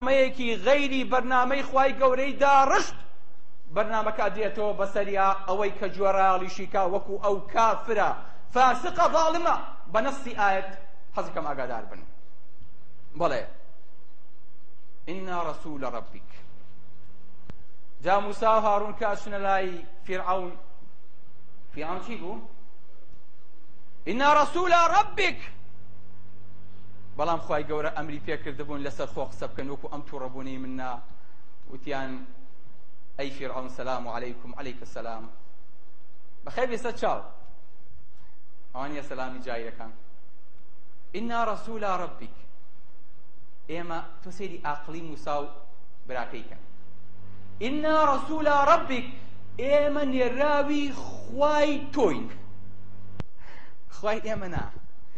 مەیەکی غەیری بەرنامەی خوای گەورەی داڕشت بەرنامەکە دێتەوە بەسەریا ئەوەی کە گوێڕایەڵیشی کا وەکو ئەو کافرە فاسقە ظاڵمە بە نەسی ئایەت حەزەکەم ئاگادار بن بەڵێ ئینا رسول ربک جا موسا و هارون کە ئەچنە لای فرعون فرعون چی بوو ئینا رسول ربک بەڵام خوای گەورە ئەمری پێ کردبوون لەسەر خۆ قسە بکەن وەکو ئەم تووڕەبوونەی من نا وتیان ئەی فیرعەون سەلام و عەلەیکم عەلەیکە سەلام بەخێر بێسە چاو ئەوان یە سەلامی جایرەکان ئینا ڕەسولا ڕەبیک ئێمە تۆ سێری ئاقلی موسا و براکەی کەن ئینا ڕەسولا ڕەبیک ئێمە نێراوی خوای تۆین خوای ئێمە نا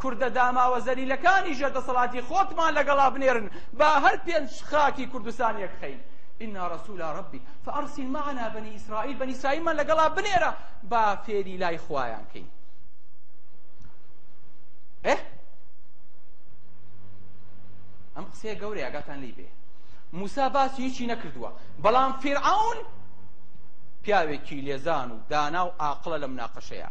کوردە داماوە زەلیلەکانی ژێر دەسەڵاتی خۆتمان لەگەڵا بنێرن با هەر پێنج خاکی کوردستان یەک خەین انا رسول ربک فارسل معنا بنی اسرائیل بنی اسرائیلمان لەگەڵا بنێرە با فێری لای خوایان کەین ئه ئەم قسەیە گەورەیە گاتان لی بێ موسا باسی هیچی نەکردووە بەڵام فیرعون پیاوێکی لێزان و دانا و ئاقڵە لە مناقەشەیە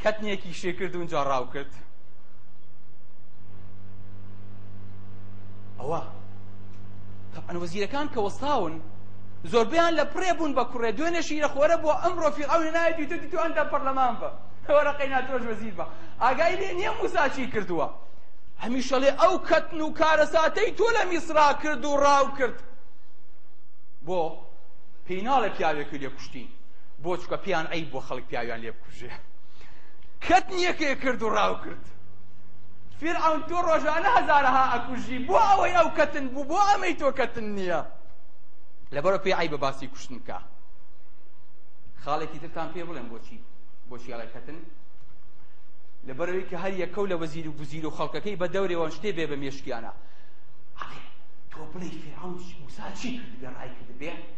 کەتنێکی شێ کرد و جا ڕاو کرد ئەوە تەعەن وەزیرەکان کە وەستاون زۆربیان لە پڕێ بوون بە کوڕێ دوێنێ شیرە خۆرە بۆ ئەمڕۆ فیرعەون نایەتی تۆ تو ئەندە پەرلەمان بە وەرەقەی ناتۆش وەزیر بە ئاگای لێ نییە موسا چی کردووە هەمیشەڵێ ئەو کەتن و کارەساتەی تۆ لە میسرا کرد و ڕاو کرد بۆ پێی ناڵێ پیاوێکی لێ کوشتین بۆ چکە پێیان عیب بۆ خەڵک پیاویان لێ بکوژێ کەت نیەکێ کرد و ڕاو کرد فیرعون تۆ ڕۆژانە هەزارەها ئەکوژی بۆ ئەوەی ئەو کەتن بوو بۆ ئەمەی تۆ کەتن نییە لەبەرە پێی عیبە باسی کوشتن بکە خاڵێکی ترتان پێ بڵێن بۆچی بۆچی ئەڵێ کەتن لەبەرەوەی کە هەر یەکە و لە وەزیر و گوزیر و خەڵکەکەی بە دەورێوەن شتێ بێ بە مێشکیانە تۆ بڵێ فیرعون موسا چی کرد گەڕای کرد بێ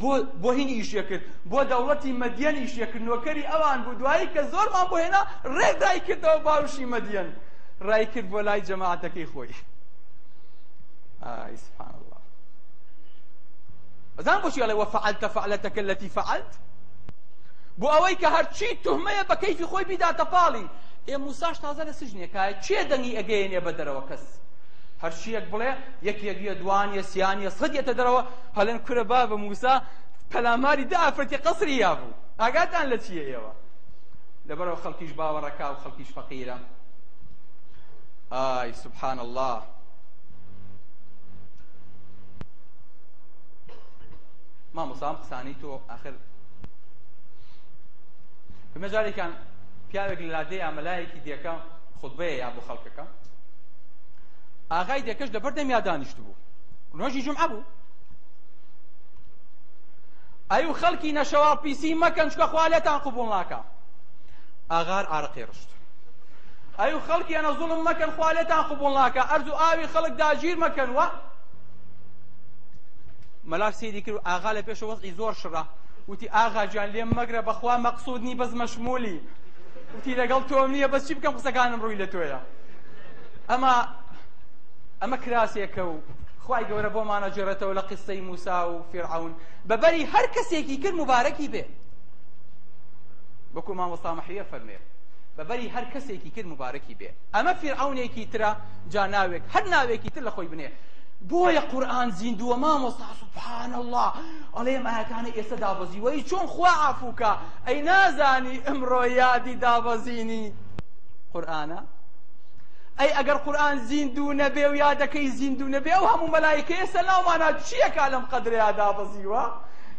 بۆ بۆ هین ئیشێ کرد بۆ دەوڵەتی مەدیەن ئیشێ کرد نۆکەری ئەوان بوو دوایی کە زۆرمان بۆ هێنا ڕێک دای کردەوە باوشی مەدیەن ڕای کرد بۆ لای جەماعەتەکەی خۆی ئای سبحان الله ئەزان بۆچی ئەڵێ وەفعلت فعلتەکە التي فعلت بۆ ئەوەی کە هەرچی تهمەیە بە کەیفی خۆی بیداتە پاڵی ئێ موساش تازە لە سجنێکایە چێ دەنگی ئەگەیەنێ بە دەرەوە کەس هەرچیەک بڵێ یەکێک یە دوان یە سیان یە سەد یەتە دەرەوە هەڵێن کورە بابە موسا پەلاماری دە ئافرەتی قەسری یابوو ئاگاتان لە چییە ئێوە لەبەرەوە خەڵکیش باوەڕەکا و خەڵکیش فەقیرە ئای سبحان الله مامۆسام قسانی تۆ ئاخر بمەجارێکان پیاوێک لە لادێ یا مەلایەکی دێکە خودبەیە یا بۆ خەڵکەکە ئاغای دێکەش لەبەر دەمیا دانیشتبوو نۆژی جمعە بوو ئەی و خەڵکی نەشەواڵ پیسی مەکەن چکە خوا لێتان قوبوڵ ناکە ئاغار عارقی ڕشت ئەی و خەڵکی ئەنە زوڵم مەکەن خوا لێتان قوبوڵ ناکە ئەرز و ئاوی خەڵک داگیر مەکەن وە مەلا سیری کرد ئاغا لە پێش وەزعی زۆر شڕە وتی ئاغا گیان لێم مەگرە بەخوا مەقصود نی بەس مەشمولی وتی لەگەڵ تۆم نییە بەس چی بکەم قسەکانم ڕووی لە تۆیە ئەمە ئەمە کراسێکە و خوای گەورە بۆمانە جێڕێتەوە لە قسەی موسا و فێرعون بەبەری هەر کەسێکی کرد مبارەکی بێ وەکو مامۆستا مەحویە فەرمێ بەبەری هەر کەسێکی کرد مبارەکی بێ ئەمە فێرعونێکی ترە جا ناوێک هەر ناوێکی تر لە خۆی بنێ بۆیە قورآن زیندووە مامۆستا سبحان الله ئەڵێم ئاەکانە ئێستا دابەزی وەی چۆن خوا عفوکە ئەی نازانی ئەمڕۆ یادی دابەزینی قورآانە ئەی ئەگەر قورئان زیندوو نەبێ و یادەکەی زیندوو نەبێ ئەو هەموو مەلایکەیە سەرناومانا چییەکا لەم قەدرەیا دابەزیوە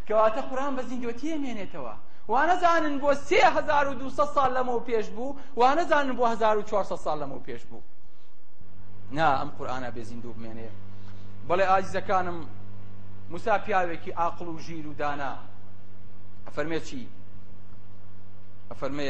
کەواتە قورئان بە زیندوەتی ئەمێنێتەوە وانەزانن بۆ سێ هەزار و دووسە ساڵ لەمەو پێش بوو وانەزانن بۆ هەزار و چوارسە ساڵ لەمەو پێش بوو نا ئەم قورئانە بێ زیندوو بمێنێ بەڵێ ئازیزەکانم موسا پیاوێکی ئاقڵ و ژیر و دانا ئەفەرمێ چی ئەفەرمێ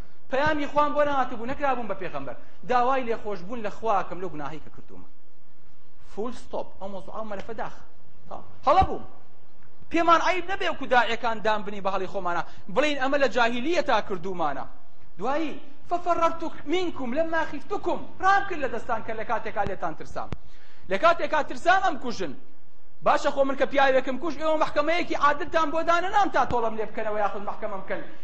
پەیامی خوام بۆ نەهاتبوو نەکرابووم بە پێغەمبەر داوای لێخۆشبوون لە خواکەم لەو گوناهی کە کردوومە فول ستۆپ ئەو مۆزوع ئەو مەلەفە داخ هەڵە بووم پێمان عیب نەبێ وکو داعەکان دام بنی بە هەڵی خۆمانە بڵین ئەمە لە جاهیلیە تا کردومانە دوایی ففررت منکم لما خفتکم رام کرد لە دەستان کە لە کاتێکا لێتان ترسام لە کاتێکا ترسام ئەم کوژن باشە خۆ من کە پیاوێکم کوش ئێوە محکمەیەکی عادلتان بۆ دانەنام تا تۆڵەم لێ بکەنەوە یاخود محکمە بکەن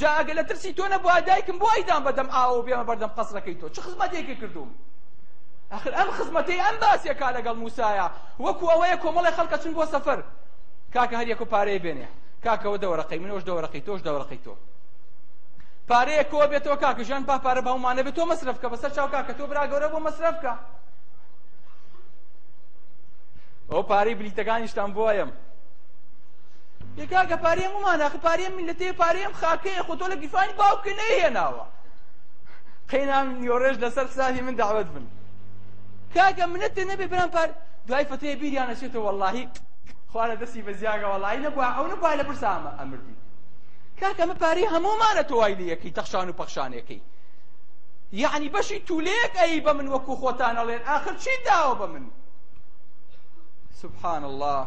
جا ئەگەر لە ترسی تۆ نەبوایە دایکم بۆ ئەیدام بە دەم ئاوەوە بێمە بەردەم قەسرەکەی تۆ چ خزمەتێکی کردووم ئەخر ئەم خزمەتەی ئەم باسێکا لەگەڵ موسایە وەکو ئەوەیە کۆمەڵی خەڵکە چون بۆ سەفەر کاکە هەر یەکو پارەیە بێنێ کاکەوە دەوەرەقەی منەوەش دەوەرەقەی تۆش دەوەرەقەی تۆ پارەیە کۆ بێتەوە کاکە ژیان با پارە بە هەمومانە بێت تۆ مەسرف کە بەسەر چاو کاکە تۆ برا گەورە بۆ مەسرف کە ئەو پارەی بلیتەکانیشتان بۆیم ئێ کاکە پارەی هەموومان ئاخر پارەی ئەم میللەتەیە پارەی ئەم خاکەیە خۆ تۆ لە گیرفانی باوکت نەیهێناوە قەینام نیۆڕێژ لەسەر حسابی من دەعوەت بن کاکە منەتێ نەبێ برام پار دوای فتەیە بیریان ئەچێتەوە وەڵڵاهی خوا لە دەستی بەزیاگە وەڵڵاهی نەبووە ئەو نەبووە لە برسا ئەمە ئەمردی کاکە ئەمە پارەی هەموومانە تۆ وای لێ یەکەی تەخشان و پەخشانێکەی یعنی بەشی تولەیەک ئەی بە من وەکو خۆتان ئەڵێن ئاخر چی داوە بە من سبحان الله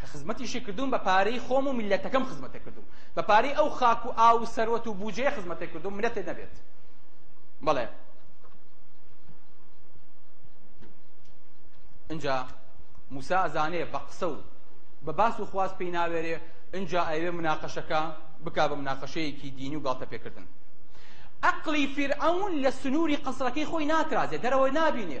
کە خزمەتیشی کردوم بە پارەی خۆم و میلەتەکەم خزمەتە کردوم بە پارەی ئەو خاک و ئاو و سەروەت و بوجەیە خزمەتە کردوم منەتێ نەبێت بەڵێ اینجا موسا ئەزانێ بە قسە و بە باس و خواست پێی ناوێرێ اینجا ئەوێ مناقەشەکە بکا بە مناقەشەیەکی دینی و گاڵتە پێکردن ئەقلی فیرعەون لە سنووری قەسرەکەی خۆی ناترازێ دەرەوە نابینێ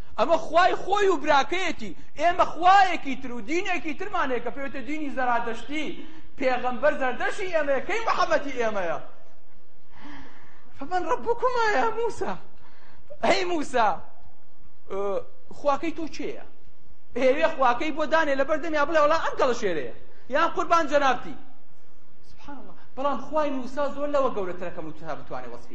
ئەمە خوای خۆی و براکەیەتی، ئێمە خوایەکی تر و دینێکی ترمان هەیە کە پێوتە دینی زەرادەشتی، پێغەمبەر زەردەشی ئێمەیە کەی محمدی ئێمەیە؟ فمن ربکما یا موسا ئەی موسا خواکەی تۆ کێیە؟ ئێوێ خواکەی بۆ دانێ لە بەردەم یا بڵێ وڵا ئەم گەڵە شێرەیە یان قوربان جەنابتی سبحان الله بەڵام خوای موسا زۆر لەوە گەورەترەکەم و تا بتوانێ وەسفی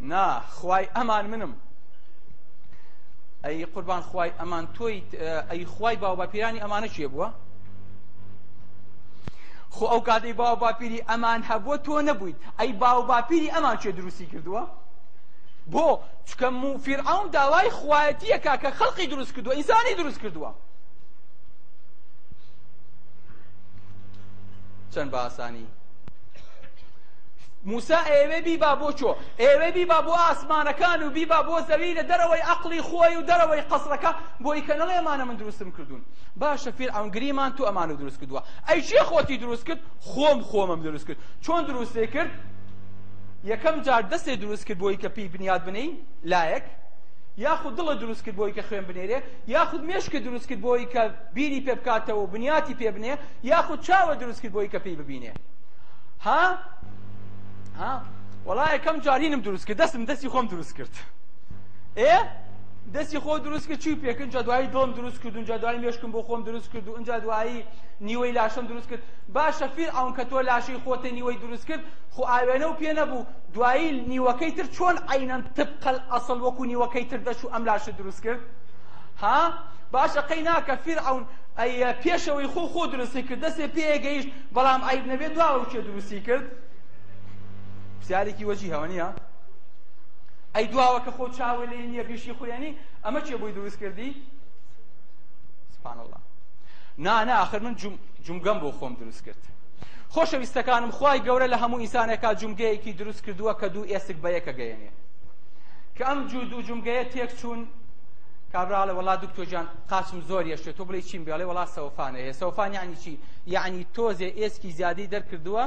نا خوای ئەمان منم ئەی قوربان خوای ئەمان تۆی ئەی خوای باو باپیرانی ئەمانە چێ بووە خۆ ئەو کاتەی باو باپیری ئەمان هەبووە تۆ نەبوویت ئەی باو باپیری ئەمان چێ دروستی کردووە بۆ چکە موفیرعون داوای خوایەتیەکە کە خەڵقی دروست کردووە ئینسانی دروست کردووە چەند بە ئاسانی موسا ئەیەوێ بیبا بۆ چۆ ئەیەوێ بیبا بۆ ئاسمانەکان و بیبا بۆ زەوی لە دەرەوەی عەقڵی خۆی و دەرەوەی قەسرەکە بۆی کە نەڵێ ئەمانە من دروستم کردوون باشە فیرعەون گریمان تۆ ئەمانە دروست کردووە ئەی چێ خۆتی دروست کرد خۆم خۆمم دروست کرد چۆن دروستێ کرد یەکەم جار دەستێ دروست کرد بۆی کە پێی بنیاد بنی لایەک یاخود دڵە دروست کرد بۆی کە خوێن بنێرێ یاخود مێشکە دروست کرد بۆی کە بیری پێ بکاتەوە و بنیاتی پێ بنێ یاخود چاوە دروست کرد بۆی کە پێی ببینێ ها ها وەڵا یەکەم جار هینم دروست کرد دەستم دەستی خۆم دروست کرد ئێ دەستی خۆ دروست کرد چی پێکن جا دوایی دڵم دروست کرد اونجا دوایی مێشکم بۆ خۆم دروست کرد و اونجا دوایی نیوەی لاشەم دروست کرد باشە فیر ئەون کە تۆ لاشەی خۆتە نیوەی دروست کرد خۆ ئاوێنە و پێ نەبوو دوایی نیوەکەی تر چۆن عینەن تبقل ئەسڵ وەکو نیوەکەی تر دەچوو ئەم لاشە دروست کرد ها باشە قەی ناکە فیر ئەون ئەی پێشەوەی خۆ خۆ دروستی کرد دەسێ پێ گەیشت بەڵام عیب نەبێت دواوە کێ دروستی کرد پرسیارێکی وەجیهەوە نییە ئەی دواوە کە خۆ چاوە لێ نییە بیشی خوێنی ئەمە کێ بۆی دروست کردی سبحان الله نا نا آخر من جم جمگەم بۆ خۆم دروست کرد خۆشەویستەکانم خوای گەورە لە هەموو ئینسانێکا جمگەیەکی دروست کردووە کە دوو ئێسک بە یەکە گەیەنێ کە ئەم جوو دوو جمگەیە تێک چوون کابراڵە وەڵا دکتۆر جان قاچم زۆر یەشێ تۆ بڵێ چیم بێڵێ وڵا سەوفان ئەهێ سەوفان یعنی چی یعنی تۆزێ ئێسکی زیادەی دەرکردووە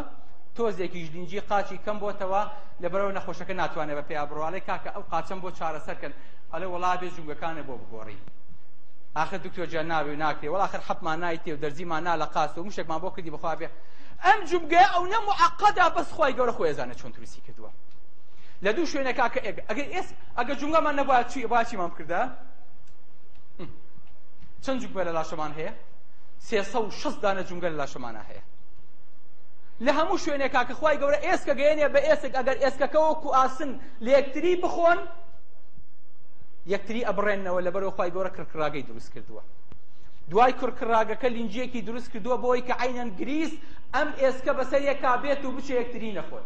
تۆزێکیش لینجی قاچی کەم بۆتەوە لە بەرەوە نەخۆشەکە ناتوانێت بە پێیا بڕواڵێ کاکە ئەو قاچەم بۆ چارەسەرکەن ئەلە وڵا بێ جوگەکانە بۆ بگۆڕی آخر دکتۆر جان ناوێ و ناکرێ وڵا آخر حەپمان نایتێ و دەرزیمان نا لە قاس و مشێکمان بۆ کردی بخوا بێ ئەم جومگەیە ئەو نە معقدە بەس خوای گەورە خۆی ئەزانێت چۆن دروستی کردووە لە دوو شوێنەکە کە ئەگەر ئێس ئەگەر جومگەمان نەبووە چی باشیمان بکردە چەند جوگبە لە لاشەمان هەیە سێسە و شەست دانە جونگە لە لاشەمانە هەیە لە هەموو شوێنێکا کە خخوای گەورە ئێسکە گەێنێ بە ئێسک ئەگەر ئێسکەکەەوە کو ئاسن لە یەکتری بخۆن یەکتری ئەبڕێنەوە لە بەرەوە خخوای گەورە کڕکراگەی دروست کردووە دوای کڕکراگەکە لینجیەکی دروست کردووە بۆی کە عینەن گریس ئەم ئێسکە بەسەر یەکا بێت و بچێ یەکتری نەخۆن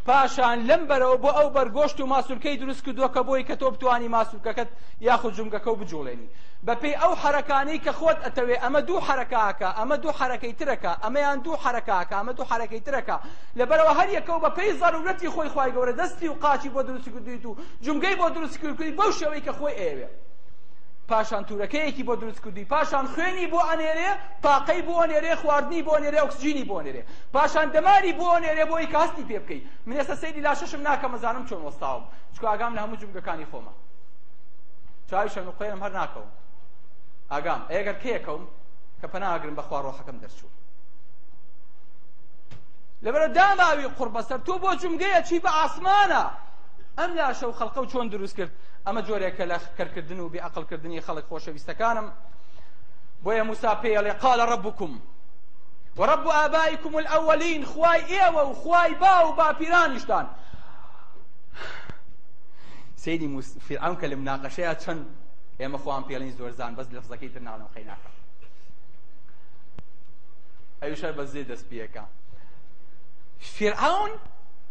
پاشان لەم بەرەوە بۆ ئەو بەرگۆشت و ماسولکەی دروست کردووە کە بۆی کە تۆ بتانی ماسولکەکەت یاخود جومگەکە و بجوڵێنی بە پێی ئەو حەرەکانەی کە خۆت ئەتەوێ ئەمە دوو حەرەکاکە ئەمە دوو حەرەکەی ترەکە ئەمەیان دوو حەرەکاکە ئەمە دوو حەرەکەی ترەکە لەبەرەوە هەر یەکەو بە پێی زەرورەتی خۆی خوای گەورە دەستی و قاچی بۆ دروست کردویت و جومگەی بۆ دروست کردویت بەو شێوەی کە خۆی ئەیەوێ پاشان تورەکەیەکی بۆ دروست کردوی پاشان خوێنی بۆ ئەنێرێ تاقەی بۆ ئەنێرێ خواردنی بۆ ئەنێرێ ئۆکسجینی بۆ ئەنێرێ پاشان دەماری بۆ ئەنێرێ بۆی کە هەستی پێ بکەی من ئێستا سەیری لاشەشم ناکەم مەزانم چۆن وەستاوم چکە ئاگام لە هەموو جومگەکانی خۆمە چاوی شەم و قەیرم هەر ناکەوم ئاگام ئەگەر کێکەوم کە پەناگرم بەخوا ڕۆحەکەم دەرچوو لەبەرە داماوی قڕ بەسەر تۆ بۆ جومگەیە چی بە ئاسمانە ئەم لاشە و خەڵقە و چۆن دروست کرد ئەمە جۆرێکە لە کەرکردن و بێعقلکردنی خەڵک خۆشەویستەکانم بۆیە موسا پێڵێ قالە ڕبکم وەڕب و ئابایکم الأولین خوای ئێوە و خوای با و باپیرانیشتان سەیری موس فیرعەون کە لە مناقەشەیە چەند ئێمە خۆیان پێڵین زۆر زان بەس لەفزەکەی تر ناڵێم قەی ناکەم ئەویش هەر بە زێ دەست پێەکە فیرعەون